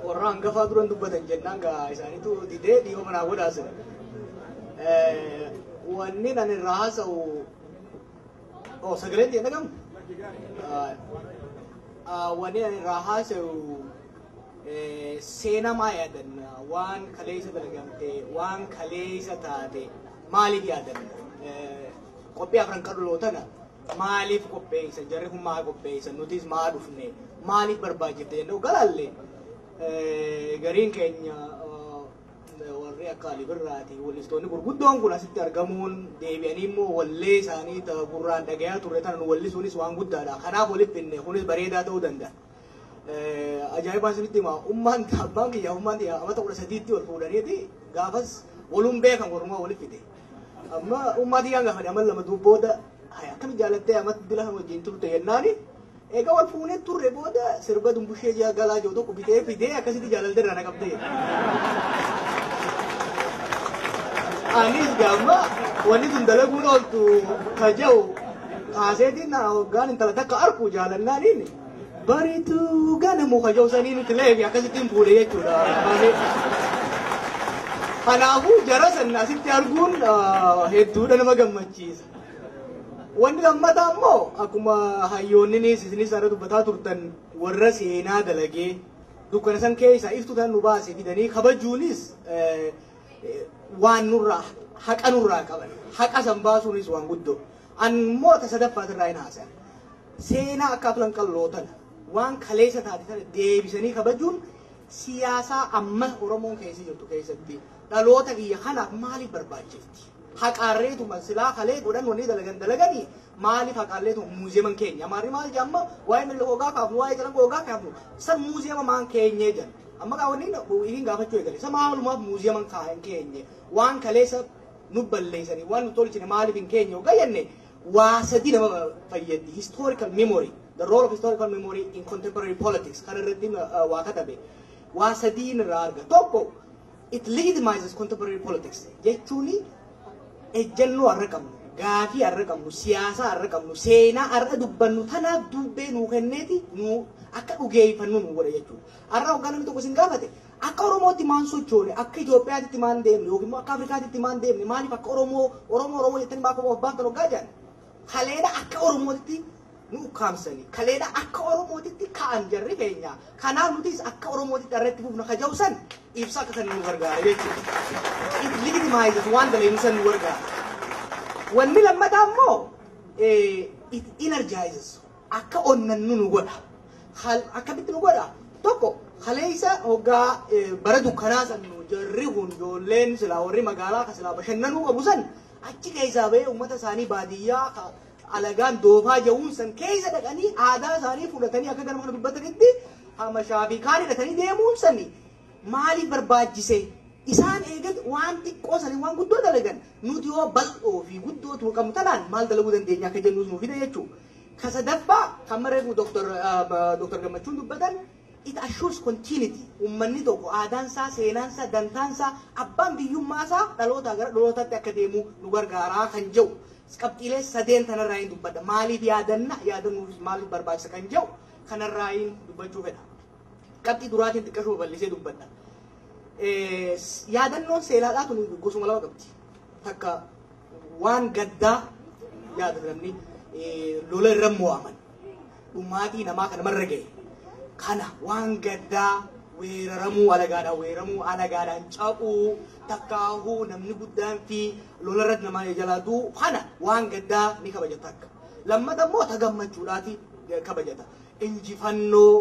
warra hangafaa duran dubbatan jennaan gaa isaaniitu didee dhiiba manaa godhaasira. Wanni ani irraa haasa'u Oh, sagaleen ta'e dhagamu? Wanni ani irraa haasa'u seenaa maa yaadanna? Waan kaleessa dalagamte, waan kaleessa taate maaliif yaadanna? Qophii afran qal'oo tana maaliif qopheessa? Jarri kun maa qopheessa? Nutis maa dhufne? Maaliif barbaachifte jennee galaalle gariin keenya warri akka Ali Birraati wallistoonni gurguddoon kun asitti argamuun deebi'anii immoo wallee isaanii ta gurraan dhagayaa turre tana nu wallisuunis waan guddaadha. Kanaaf walitti finne kunis bareedaa ta'uu danda'a. Ajaa'ibaan isinitti hima ummaan abbaan kiyya ummaan tiyya amata kudha sadiitti wal fuudhaniiti gaafas waluun beekan warrumaa walitti fide. Amma ummaa tiyyaan gaafadhe amma lama duub booda akkamitti jaalattee amatti dila kan wajjin turte jennaani Eega wal fuunee turre booda sirba dumbushee jaa galaa jiru tokko bitee fidee akkasitti jaalallee irraa na qabdee. Anis gaamma wanni sun dalaguun ooltu kaja'u kaaseetiin na hoggaan intala takka arku jaalannaaniin bariituu ganamu kaja'u sanii nuti leefi akkasittiin fuudhe jechuudha. Kanaafuu jara sanna asitti arguun hedduudha nama gammachiisa. Wanni lammataa immoo akkuma hayyoonninis isinis irra dubbataa turtan warra seenaa dalagee dukkana san keessaa iftuu tan nu baase fidanii kabajuunis waan nurraa haqa nurraa qaban haqa san baasuunis waan guddoo ammoo ta sadaffaas irraa hin haasa'a seenaa akka aflan qalloo tana waan kaleessa taate tana deebisanii kabajuun siyaasaa amma Oromoon keessa jirtu keessatti dhaloota kiyya kanaaf maaliif barbaachisa? haqaarreetuma silaa kalee godhan wanni dalagan dalaganii maaliif haqaarreetuma muuziyeman keenya amaarri maal jedha amma waa'ee milli hoogaa kaafnu waa'ee calanqoo hoogaa kaafnu san muuziyema maan keenyee jedhan amma kaa wanni ifiin gaafachuu eegale isa maalumaaf muuziyeman kaa hin keenye waan kaleessa nu balleessanii waan nu tolchine maaliif hin keenye hoggaa jenne waa sadii nama fayyaddi historical memory the role of historical memory in contemporary politics kan irratti uh, waa katabe waa sadiin irraa arga tokko It legitimizes contemporary politics jechuun ejjennoo har'a qabnu, gaafii har'a qabnu, siyaasaa har'a qabnu, seenaa har'a dubbannu tanaaf duubbee nuu kenneeti nuu akka dhugeeffannu nu godha jechuudha. Har'a hoggaa namni tokko isin gaafate akka Oromootti maan sochoone, akka Itoophiyaatitti maan deemne yookiin immoo akka Afrikaatitti maan deemne maaliif akka Oromoo Oromoo Oromoo jettanii maaf of baaftan hoggaa jedhan Kaleedha akka Oromootitti nu ukkaamsanii, kaleedha akka Oromootitti ka'an jarri keenya. Kanaaf nutis akka Oromootitti har'a itti fufna ka jedhu san ibsa akka san nu gargaara jechuudha. It legitimizes waan dalagnu san nu gargaara. Wanni lammataa immoo it energizes akka onnannu nu godha. Akkamitti nu godha? Tokko kaleessa hoggaa bara dukkanaa san nu jarri kun ijoolleen silaa warri magaalaa ka silaa bashannanuu qabu san Achi keessaa ba'ee ummata isaanii baadiyyaa ka alagaan doofaa ja'uun san keessa dhaqanii aadaa isaanii fudhatanii akka galma kana dubbatanitti hamashaa fi kaan hidhatanii deemuun sani maaliif barbaachise? Isaan eegat waan xiqqoo sanii waan guddoo dalagan nuti yoo bal'oo fi guddoo tuma qabnu tanaan maal dalaguu dandeenya akka jennuus nu fida jechuudha. Ka sadaffaa kan reefu Dr. Gammachuun dubbatan It assures continuity, ummanni tokko aadaansaa, seenaansaa, dantaansaa, abbaan biyyummaasaa dhalootaa gara dhalootaatti akka deemu nu gargaara kan jedhu qabxiilee sadeen tanarraayin dubbadha. Maaliif yaadanna? Yaadannuufis maaliif barbaachisa kan jedhu kanarraayin dubbachuu fedha. Qabxii duraatiin xiqqashuma bal'isee dubbadha. Yaadannoon seelaadhaa tun gosuma lama qabdi. Takka waan gaddaa yaadatan lola irra mo'aman. Dhumaatii namaa ka namarra gahe kana waan gaddaa weeraramuu alagaadhaan weeramuu alagaadhaan ca'uu takkaahuu namni guddaan fi lolarratti namaa jalaa du'u kana waan gaddaa ni kabaja takka. Lammata immoo ta gammachuudhaati kabajata. Injifannoo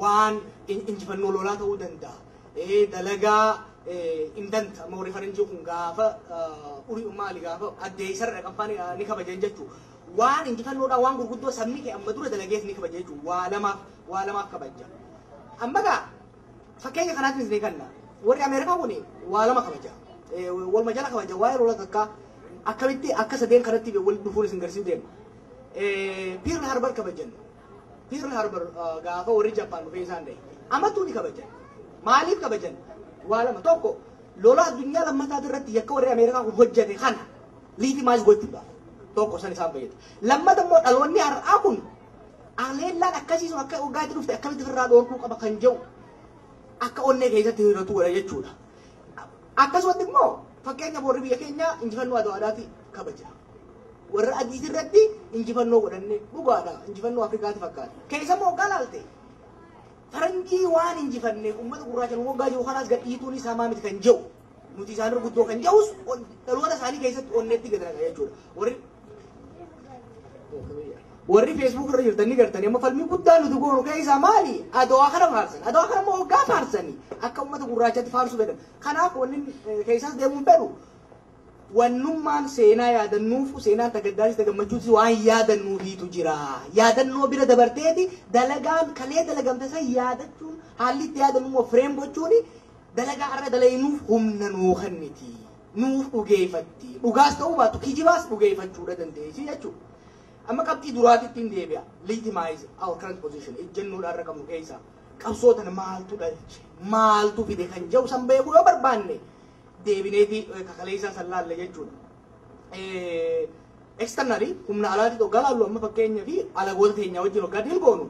waan injifannoo lolaa ta'uu danda'a. Dalagaa indanta amma warri faranjii kun gaafa urii maali gaafa addeessarra qabbaan ni kabajan jechuudha. Waan injifannoodhaa waan gurguddoo sabni kee amma dura dalagees ni kabaja jechuun waa lamaaf waa lamaaf kabajja. Amma gaa fakkeenya kanaatiin isinii kanna warri Ameerikaa kun waa lama kabaja. Waluma jala kabaja waa'ee lola takkaa akkamitti akka sadeen kanatti wal dhufuun isin garsiisu deema. Pearl Harbor kabajan. Pearl Harbor gaafa warri Jappaan dhufee isaan dhahe. Amattuu ni kabajan. Maaliif kabajan? Waa lama tokko lola addunyaa lammataa irratti yakka warri Ameerikaa kun hojjete kana liitimaayis gochuudha. Tokko san isaan fayyada. Lammata immoo dhaloonni har'aa kun aleellaan akkasii sun akka waggaatti dhufte akkamitti ofirraa dhoorkuu qaba kan jedhu akka onnee keessatti hiratu godha jechuudha. Akkasumatti immoo fakkeenya boorri biyya keenyaa injifannoo adda addaati kabaja. Warra adii irratti injifannoo godhanne dhugaadha injifannoo Afrikaati fakkaata. Keessa immoo waggaa laalte faranjii waan injifanneef uummata gurraacha nu waggaa jiru kanaas gadhiituun isaa maa miti kan jedhu. Nuti isaan irra guddoo kan ja'us on- dhaloota isaanii keessatti onneetti galaqa jechuudha. Warri warri feesbuuk irra jirtan ni gartani amma falmii guddaa nuti goonu keessaa maali adawaa kana faarsan adawaa kana immoo waggaa faarsanii akka ummata gurraachatti faarsuu fedhan kanaaf wanni eh, keessaas deemuu hin fedhu wannummaan seenaa yaadannuufu seenaa tagaddaanis tagammachuutis waan yaadannuufiitu jira yaadannoo bira dabarteeti dalagaan kalee dalagamte san yaadachuun haalli itti yaadannu immoo fireem gochuuni Dalagaa har'a dalaynuuf humna nuu kenniti. Nuuf dhugeeyfatti. Dhugaas ta'uu baattu kijibaas dhugeeyfachuu dha dandeeysi jechuu dha. Amma qabxii duraatittin deebi'a. Legitimize our current position. Ejjennoo har'a qabnu keeysaa qabsoo tana maaltu dhalche? Maaltu fide? Kan jedhu san beekuu yoo barbaanne deebineeti ka kaleeysaa san laalla jechuu dha. Externally, humna alaatitti oggaa laallu amma fakkeenyaaf alagoota teenyaa wajjin oggaa deal goonu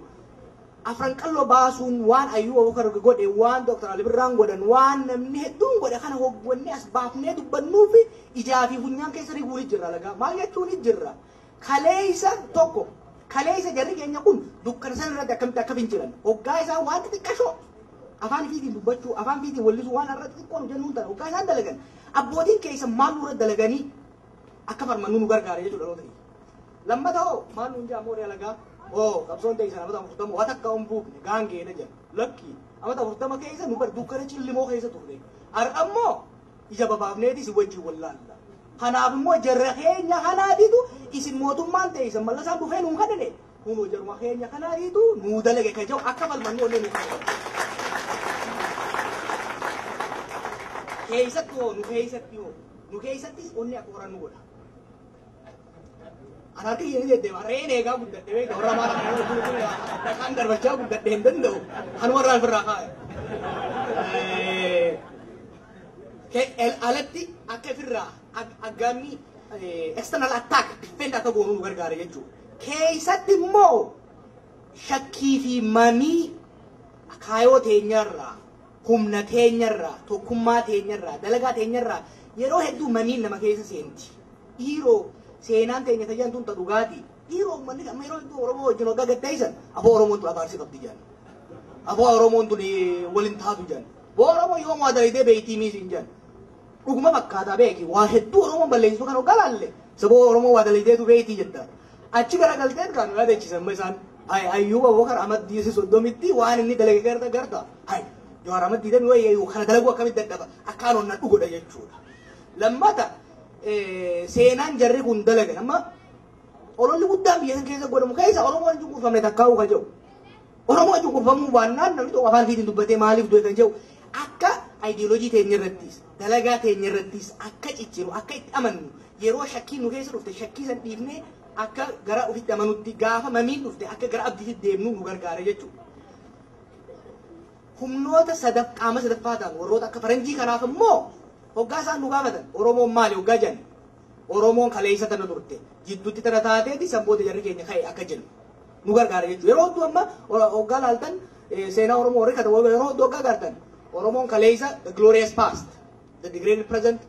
afran qalloo baasuun waan Ayyuu Abubakar godhe waan Dr. Ali Birraan godhan waan namni hedduun godhe kana hoggannee as baafnee dubbannuu fi ijaa fi funyaan keessa riguun ni jirra lagaa maal jechuun ni jirra kaleessa tokko kaleessa jarri keenya kun dukkana san irratti akkamitti akka fincilan oggaa isaa waan xixiqqashoo afaan ifiitiin dubbachuu afaan ifiitiin wallisuu waan irratti xiqqoon hojjennuun tana oggaa isaan dalagan abbootiin keessa maal nurra dalaganii akka farmannu nu gargaare jechuudha dhaloota kiyya. Lammata hoo maal nuun jedha mooree alagaa hoo qabsoon teessan amata afurtama waa takka hin buufne gaangeedha jedha. Lakki amata afurtama keessa nu bar dukkana cillimoo keessa turre. Har'a immoo ija babaafneeti isin wajjin wallaalla. Kanaaf immoo jarra keenya kanaatitu isin mootummaan teessan mallasaan dhufee nuun kadhine Kunoo jaruma keenya kanaa dhiitu nuu dalage ka jedhu akka falmannu onnee nuuf ta'e. Keessatti hoo nu keessatti hoo nu keessattis onnee akka horannu godha. Ana harka kiyya ni deddeema re'een eegaa guddadhe beekta warra maal akka nama guutuu dhaqaan darbachaa guddadhe hin danda'u kan warra ofirraa kaa'e. Alatti akka ofirraa aggaammii external attack defend akka goonu nu gargaara jechuudha. keessatti immoo shakkii fi mamii kaayoo teenya irraa, humna teenya irraa, tokkummaa teenya irraa, dalagaa teenya irraa yeroo hedduu mamiin nama keessa seenti. Dhiiroo seenaan teenya tajaajiltuun tun ta dhugaati. Dhiiroo uummanni amma yeroo hedduu Oromoo wajjin waggaa gaddeessan aboo Oromoon tun abaarsi qabdi jedhan. Aboo Oromoon tun waliin taatu jedhan. Boo Oromoo yoo waa dalaydee beeytii miisiin jedhan. Dhuguma fakkaata beeki waa hedduu oromoon balleessitu kan hoggaa laalle saboo oromoo waa dalaydeetu beeyti jetta achi gara galteet kaa nu yaadachisan ma isaan hay ayyuuba abubakar ahmad diisi soddomitti waan inni dalage garta garta hay jawaar ahmad diidami wayya yuu kana dalaguu akkamitti dadhaba akkaan onna dhugodha jechuudha lammata seenaan jarri kun dalagan amma ololli guddaan biyya san keessa godhamu keessa oromoon hin cunqurfamne takkaa'uu ka jedhu Oromoo cunqurfamuu baannaan namni tokko afaan ofiitiin dubbatee maaliif du'e kan jedhu akka ayidiyoolojii teenya irrattis dalagaa teenya irrattis akka cicciru akka itti amannu yeroo shakkiin nu keessa dhufte shakkii san dhiifnee akka gara ofitti amanutti gaafa mamiin dhufte akka gara abdiitti deemnu nu gargaara jechuudha. Humnoota sadaf qaama sadaffaa ta'an warroota akka faranjii kanaaf immoo hoggaa isaan nu gaafatan Oromoon maali hoggaa jedhan Oromoon kaleessa tana turte jiddutti tana taateeti san booda jarri keenya ka'e akka jennu nu gargaara jechuudha. Yeroo hedduu amma hoggaa laaltan seenaa Oromoo warri katabu yeroo hedduu hoggaa gaartan Oromoon kaleessa the glorious past the degraded present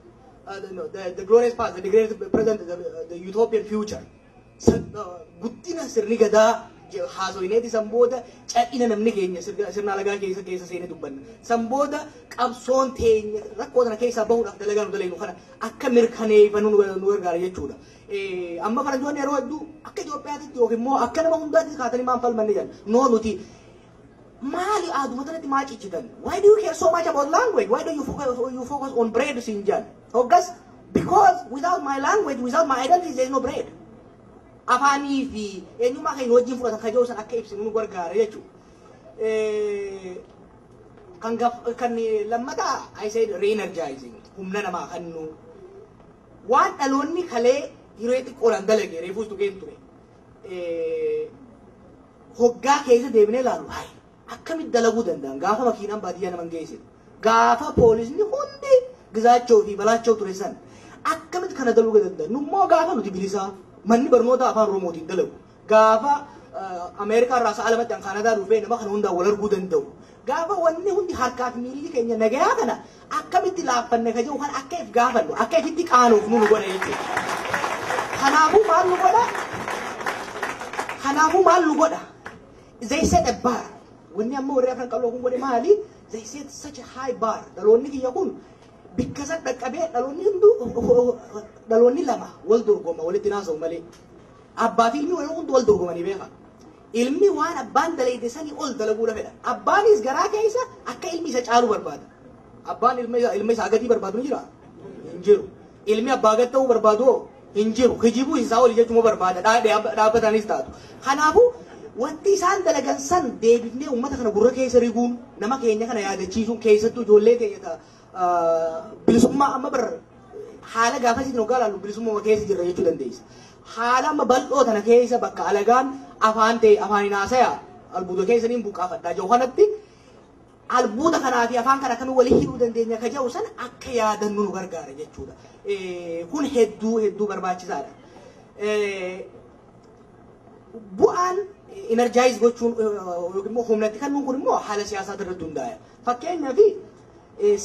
uh, the, the glorious past the degraded present the, the utopian future guddina sirni gadaa haasoyneeti san booda cadhina namni keenya sirna alagaa keessa keessa seene dubbanna. San booda qabsoon teenya rakkoo sana keessaa bahuudhaaf dalagaa nu dalagnu kana akka mirkaneeffannu nu gargaara jechuudha. Amma faranjoonni yeroo hedduu akka Itoophiyaatitti yookiin immoo akka nama hundaatti kaatanii maan falmanne jedhan. Noo nuti maali aaduma tanatti maa ciccitan? Why do you care so much about language? Why do you focus, you focus on bread siin jedhan? Hoggas because without my language, without my identity, there is no bread. Afaanii fi eenyummaa keenya wajjin fudhata kajoo san akka ibsinu nu gargaara jechuudha. Kan gaf kan lammataa I said re-energizing humna namaa kennuu. Waan dhaloonni kalee hiree xiqqoodhaan dalage reefuus tuqeen ture. Hoggaa keessa deebinee ilaalu hayi. Akkamitti dalaguu danda'an? Gaafa makiinaan baadiyyaa naman geessitu, gaafa poolisni hundi Gizaachoo fi Balaachoo ture san akkamitti kana daluga danda'an? Nu immoo gaafa nuti bilisaa manni barnootaa afaan Oromootiin dalagu, gaafa Ameerikaa irraa sa'a lamatti an Kaanadaa dhufee nama kana hundaan wal arguu danda'u, gaafa wanni hundi harkaa fi miilli keenya nagayaa kana akkamitti laaffanne ka jedhu kan akka if gaafannu, akka ifitti qaanoofnu nu godha jechuudha. Kanaafuu maal nu godha? Kanaafuu maal nu godha? They set a bar. Wanni amma warri afran qalloo kun godhe maali? They set such a high bar. Dhaloonni kiyya kun bikka san dhaqqabee dhaloonni hunduu dhaloonni lama wal dorgoma walitti naasa'u malee. Abbaa fi ilmi yeroo hundi wal dorgomanii beeka. Ilmi waan abbaan dalayde sanii ol dalaguudha fedha. Abbaanis garaa keessa akka ilmi isa caalu barbaada. Abbaan ilma isaa gadii barbaadu ni jira? Hin jiru. Ilmi abbaa gad ta'uu barbaadu hoo? Hin jiru. Kijibuu isaa oli jechuma barbaada. Dhaabbataanis taatu. Kanaafuu wanti isaan dalagan san deebifnee uummata kana gurra keessa riguun nama keenya kana yaadachiisuun keessattuu ijoollee keenya ta bilisummaa amma bar haala gaafasiitiin hoggaa ilaallu bilisummaa keessa jirra jechuu dandeessa. Haala amma bal'oo tana keessa bakka alagaan afaan ta'e afaan hin haasaya albuuda keessaniin buqqaafadhaa jiru kanatti Albuuda kanaa fi afaan kana akkamiin wali hidhuu dandeenya ka jedhu sana akka yaadannu nu gargaara jechuudha. Kun hedduu hedduu barbaachisaadha. Bu'aan enerjaayiz gochuun yookiin immoo humnatti kennuun kun immoo haala siyaasaa irratti hundaa'a. Fakkeenyaaf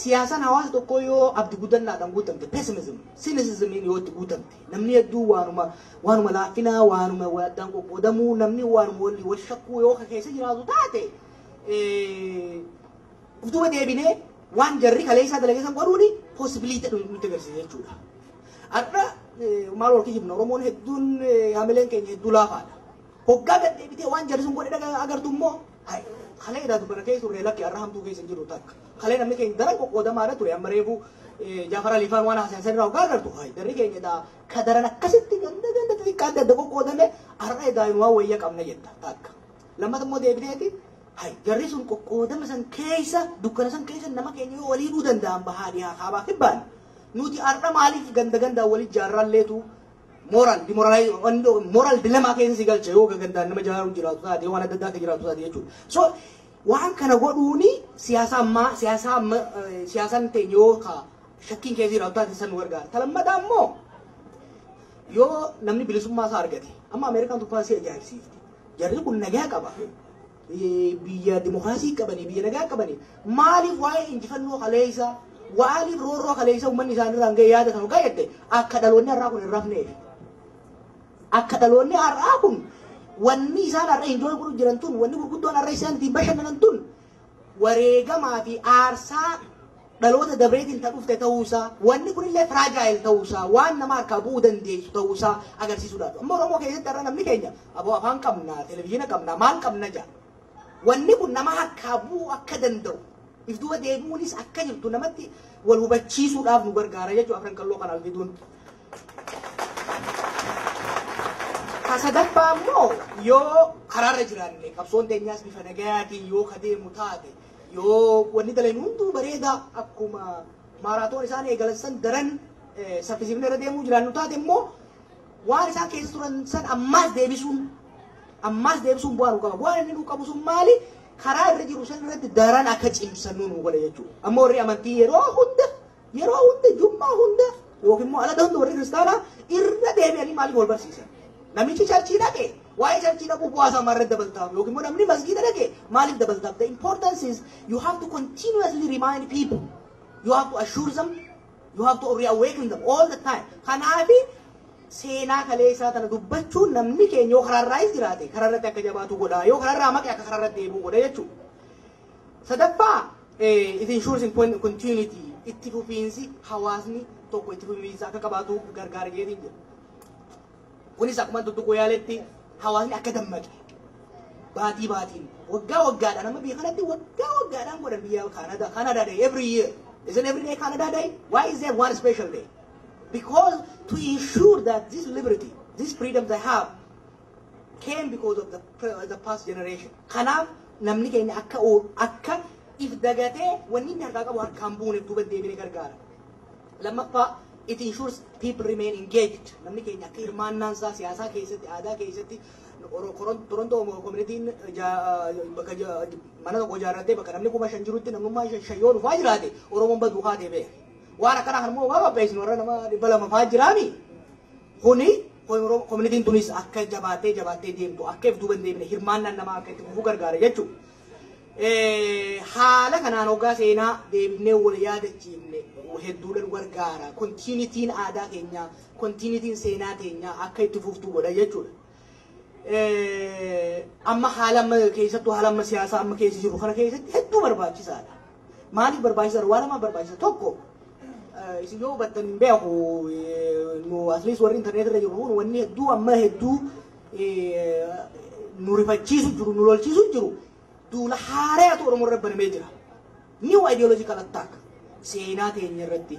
siyaasaan hawaasa tokkoo yoo abdi guddannaadhaan guutamte pessimism, cynicismiin yoo itti guutamte namni hedduu waanuma waanuma laaffinaa waanuma addaan qoqqoodamuu namni waanuma wal shakkuu yoo keessa jiraatu taate Utuma deebinee waan jarri kaleessaa dalagee san godhuuni possibility ta'u nutti agarsiisa jechuudha. Har'a maal wal kijibna Oromoon hedduun hamileen keenya hedduu laafaadha. Hoggaa gad deebitee waan jarri sun godhe agartu immoo kalee daatu kana keessa turre lakki har'a hamtuu keessa jiru takka. Kalee namni keenya daran qoqqoodamaadha ture amma reefuu Jaafar Aliifaan waan haasa'an sanirraa hoggaa agartu jarri keenya edaa kadaran akkasitti ganda ganda xixiqqaa adda adda qoqqoodame har'a edaa waan wayya qabna jetta takka. Lammata immoo deebineeti hay jarri sun qoqqoodama san keessa dukkana san keessa nama keenya yoo walii dhuu danda'an bahaa dhihaa kaabaa kibbaan nuti har'a maaliif ganda gandaa walii jaarraalleetu moral demoralize moral dilemma keessa si galcha yoo gandaan nama jaaruu jiraatu taate yoo waan adda addaa akka jiraatu taate jechuudha. So waan kana godhuuni siyaasa ammaa siyaasa amma siyaasaan teenya yoo ka shakkiin keessa jiraatu taate san nu gargaara. Ta lammataa immoo yoo namni bilisummaa isaa argate amma Ameerikaan tuffaan si ajaa'ibsiifti. Jarri kun nagaa qaba. Biyya dimokiraasii qabanii, biyya nagaa qabanii maaliif waa'ee injifannoo kaleessaa, waaliif roorroo kaleessaa uummanni isaanirraan ga'e yaadatan hoggaa jette akka dhaloonni har'aa kun hin rafneef. Akka dhaloonni har'aa kun wanni isaan har'a enjoy godhu jiran tun, wanni gurguddoon har'a isaan ittiin bashannanan tun wareegamaa fi aarsaa dhaloota dabreetiin ta dhufte ta'uu isaa, wanni kunillee fragile ta'uu isaa, waan nama harkaa bu'uu dandeessu ta'uu isaa agarsiisuudha. Amma Oromoo keessatti har'a namni keenya aboo afaan qabna, televizyiina qabna, maal qabna jaa. Wanni kun nama harkaa bu'uu akka danda'u, if duuba deebi'uunis akka jirtu namatti wal hubachiisuudhaaf nu gargaara jechuudha afran qalloo kana algiduun. Ka sadaffaa ammoo yoo karaarra jiraanne qabsoon teenyaas bifa nagayaatiin yoo ka deemu taate yoo wanni dalan hunduu bareedaa akkuma maaraatoon isaan eegalan san daran saffisiifne irra deemuu jiraannu taate immoo waan isaan keessa turan san ammaas deebisuun ammaas deebisuun bu'aa nu qaba. Bu'aan inni nu qabu sun maali? Karaa irra jiru san irratti daran akka cimsannu nu godha jechuudha. Amma warri amantii yeroo hunda Yeroo hunda jummaa hunda yookiin immoo ala ta'utti warri kiristaanaa irra deebi'anii maaliif wal barsiisan? Namichi charchii dhaqe waa'ee charchii dhaquu bu'aa isaa maarratti dabaltaaf yookiin immoo namni masgiida dhaqe maaliif dabaltaaf? The importance is you have to continuously remind people. You have to assure them. You have to reawaken them all the time. Kanaafi seenaa kalee isaa tana dubbachuun namni keenya yoo karaarraayis jiraate karaarratti akka jabaatu godha yoo karaarraa maqe akka karaarratti deebi'u godha jechuudha. Sadaffaa, it ensures in continuity itti fufiinsi hawaasni tokko itti fufiinsa akka qabaatu gargaara jedheen jira. Kunis akkuma tuttuquu yaaletti hawaasni akka dammaqe baatii baatiin waggaa waggaadhaan amma biyya kanatti waggaa waggaadhaan godhan biyya Kaanadaa Kaanadaa day every year is it every day Kaanadaa day why is there one special day because to ensure that this liberty this freedom they have came because of the the past generation. Kanaaf namni keenya akka akka if dagatee wanni inni harkaa qabu harkaan buuneef duuba deebine gargaara. Lammaffaa it ensures people remain engaged. Namni keenya akka hirmaannaan isaa siyaasaa keessatti aadaa keessatti Torontoo koominitiin bakka mana tokko ijaarrattee bakka namni kuma shan jirutti namnummaa shan shan yoo dhufaa jiraate Oromoon baduu kaatee beeka. Waan akkanaa kan immoo waa qopheessinu warra nama dhibba lama fa'aa jiraami. Kuni komunitiin tunis akka jabaattee jabaattee deemtu akka if duuba hin deemne hirmaannaan namaa akka itti fufuu gargaara jechuudha. Haala kanaan hoggaa seenaa deebinee wal yaadachiifne hedduudhaan gargaara. Kontiinitiin aadaa keenyaa, kontiinitiin seenaa keenyaa akka itti fuftu godha jechuudha. amma haala amma keessattuu haala amma siyaasaa amma keessa jiru kana keessatti hedduu barbaachisaadha. Maaliif barbaachisaadha? Waan lama barbaachisa. Tokko isin yoo hubattan hin beeku nu atleast warri intarneetii irra jiru kun wanni hedduu amma hedduu nu rifachiisu jiru nu lolchiisu jiru duula haaraatu Oromoo irra banamee jira. New ideological attack seenaa teenya irratti,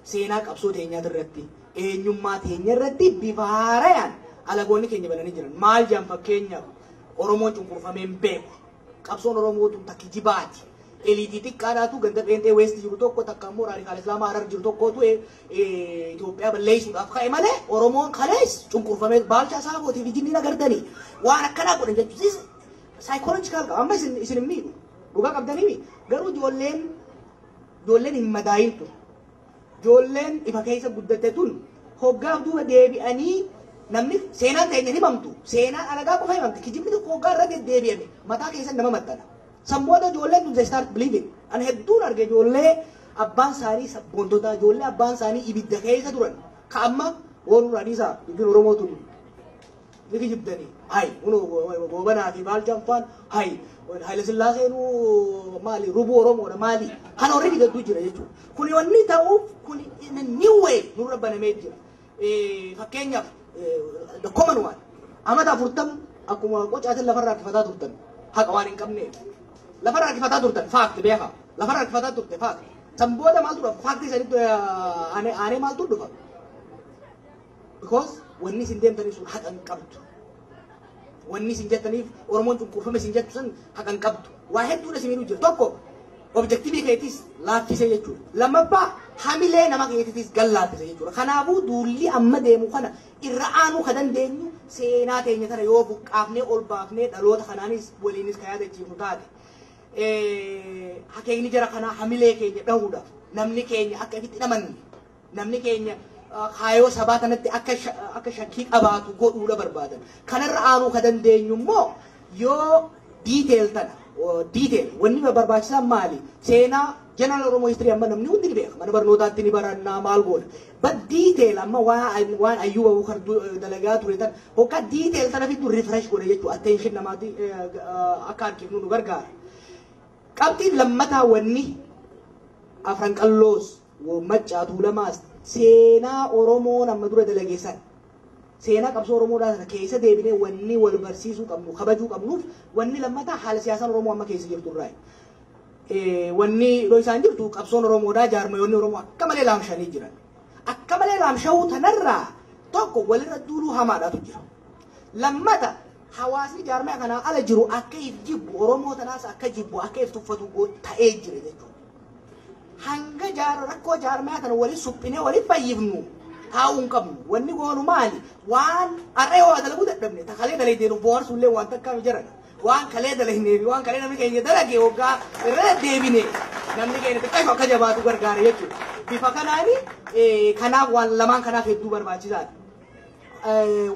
seenaa qabsoo teenyaati irratti, eenyummaa teenya irratti bifa haarayaan alagoonni keenya bananii jiran. Maal jedhan fakkeenyaaf Oromoon cunqurfamee hin beeku. Qabsoon Oromoo tun ta kijibaati. Eliitii xiqqaadhaatu ganda pheenxee West jiru tokko takka immoo raadikaal Islaamaa Harar jiru tokkootu eh, eh, Itoophiyaa balleessuudhaaf ka'e malee Oromoon kalees cunqurfamee baalchaa saafootii fi jinniin agartanii waan akkanaa godhan jechuunis saayikoolojikaal qaba. Amma isin isin hin miidhu. Dhugaa qabdaniimi garuu ijoolleen ijoolleen hin madaayin tun ijoolleen ifa keessa guddatte tun hoggaaf duuba deebi'anii namni seenaan teenya himamtu seenaan alagaa qofa himamti kijibni tokko hoggaa irra deddeebi'ame mataa keessa nama maxxana. San booda ijoolleen tun they start believing. Ani hedduun arge ijoollee abbaan isaanii sabboontotaa ijoollee abbaan isaanii ibidda keessa turan ka amma warra dhiisaa dubbiin Oromoo tun Ni kijibdanii hay kunoo goobanaa fi maal janfaan hay hayilasillaaseenu maali rubuu oromoodha maali kan already gadduu jira jechuudha kuni wanni ta'uuf kuni in a new way nurra banamee jira fakkeenyaaf the common one amata afurtam akkuma qocaatin lafarra harkifataa turtan haqa waan hin qabneef lafarra harkifataa turtan faakti beekaa lafarra harkifataa turte faakti san booda maaltu dhufa faakti sanitti aanee maaltu dhufa Because wanni isin deemtanii sun haqa hin qabdu. Wanni isin jettaniif Oromoon cunqurfame isin jettu sun haqa hin qabdu. Waa hedduun isin miidhuu jira. Tokko objektiivii keetis laaffisee jechuudha. Lammaffaa hamilee nama keetitis gad laaffise jechuudha. Kanaafuu duulli amma deemu kana irra aanuu ka dandeenyu seenaa teenya tana yoo buqqaafnee ol baafnee dhaloota kanaanis waliinis ka yaadachiifnu taate. Eh, Akeekni jara kanaa hamilee keenya dhahuudha. Namni keenya akka ifitti hin amanne. Namni keenya kaayoo sabaa kanatti akka akka shakkii qabaatu godhuudha barbaadan. Kanarra aanuu ka dandeenyu immoo yoo detail tana detail wanni barbaachisaan maali? Seenaa general Oromo history amma namni hundi ni beeka. Mana barnootaatti ni barannaa maal goona. But detail amma waan waan Ayyuba Abubakar dalagaa ture tan hokka detail tana fiddu refresh godha jechuu attention namaati akka harkifnu nu gargaara. Qabxiin lammataa wanni afran qalloos Wbo Maccaa Tuulamaas seenaa Oromoon amma dura dalage sana, seenaa qabsoo Oromoodhaa sana keessa deebinee wanni wal barsiisuu qabnu, kabajuu qabnuuf wanni lammataa haala siyaasaan Oromoo amma keessa jirtu irraayi. Wanni dhoysaan jirtu qabsoon Oromoodhaa jaarmayoonni Oromoo akka malee laamshanii jiran. Akka malee laamshawuu tanarraa tokko walirra duuluu hamaadhaatu jira. Lammata hawaasni jaarmaya kanaa ala jiru akka if jibbu, Oromoo tanaas akka jibbu, akka if tuffatu ta'ee jira jechuudha. hanga jaara rakkoo jaarmaya kana wali suphinee wali fayyifnu taa'uu hin qabnu. Wanni goonu maali? Waan har'a yoo dalaguu dadhabne ta kalee dalee deenu bohaarsu illee waan takkaa mijaradha. Waan kalee dalagnee fi waan kalee namni keenya dalage hoggaa irra deebine namni keenya xiqqaa akka jabaatu gargaara jechuudha. Bifa kanaan kanaaf waan lamaan kanaaf hedduu barbaachisaadha.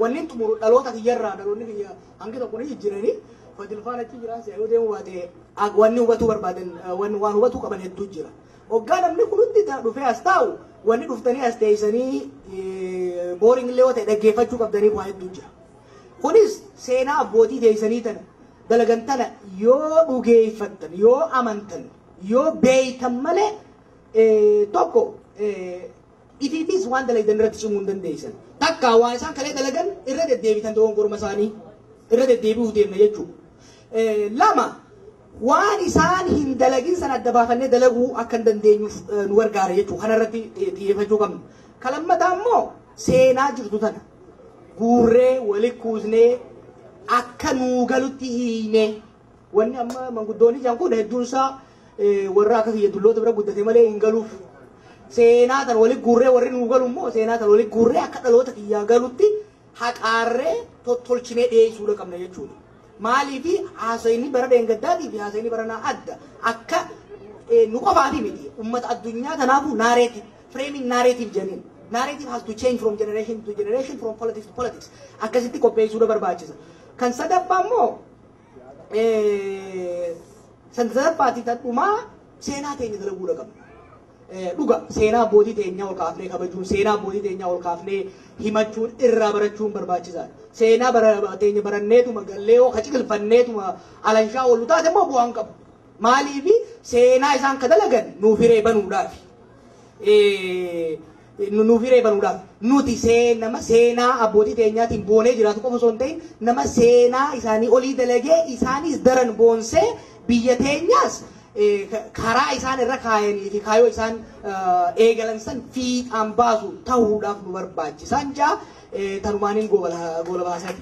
Wanni xumuru dhaloota kiyyarraa dhaloonni kiyya Hangi tokko ni jijjirani. Fadil faana achi jiraan si'a yoo deemu baatee. Ak wanni hubatuu barbaadan wan waan hubatuu qaban hedduu jira. Oggaa namni kun hundi ta- dhufee as taa'u wanni dhuftanii as teessanii booring illee yoo ta'e dhaggeeffachuu qabdaniif waa hedduu jira. Kunis seenaa abbootii teessanii tana dalagan tana yoo dhugeeffattan yoo amantan yoo beeytan malee eh, tokko eh, Ifiifis waan dalagdan irratti cimuu hin dandeessan. Takka waan isaan kalee dalagan irra deddeebitan dogongorma isaanii irra deddeebi'uuf deemna jechuudha. Lama waan isaan hin dalagin san adda baafannee dalaguu akka hin dandeenyuuf nu gargaara jechuudha. Kana irratti xiyyeeffachuu qabna. Kan lammataa immoo seenaa jirtu tana guurree walitti kuusnee akka nuu galutti hiinee Wanni amma manguddoonni jedhan kun hedduun isaa warra akka kiyya dulloota bira guddate malee hin galuuf. Seenaa tan walitti guurree warri nuu galu immoo seenaa tan walitti guurree akka dhaloota kiyyaa galutti haqaarree tottolchinee dhiyeessuudha qabna jechuudha. Maaliif haasayni bara dheengaddaatii fi haasayni baranaa adda akka nu qofaati miti ummata addunyaa kanaafuu naareetii fireemiin naareetiif jedhaniin. Narrative has to change from generation to generation, from politics to politics. Akkasitti qopheessuudha barbaachisa. Kan sadaffaa immoo Sanzarabbaati tan dhumaa seenaa teenya dalaguudha qabna. Dhuga seenaa abbootii teenyaa ol kaafnee kabajuun seenaa abbootii teenyaa ol kaafnee himachuun irraa barachuun barbaachisaadha. Seenaa bara- teenya baranneetuma gallee yoo kaciqilfanneetuma alanshaa oolu taate immoo bu'aa hin qabu. Maaliifi seenaa isaan ka dalagan nuuf hiree banuudhaafi. Eh, nuuf hiree banuudhaaf. Nuti see, nama seenaa abbootii teenyaatiin boonee jiraatu qofa osoo hin ta'in nama seenaa isaanii olii dalagee isaanis daran boonsee biyya teenyaas karaa isaan irra kaayanii fi kaayoo isaan eegalan san fiixaan baasu ta'uudhaaf nu barbaachisaan jaa tanumaaniin goolabaa isaati.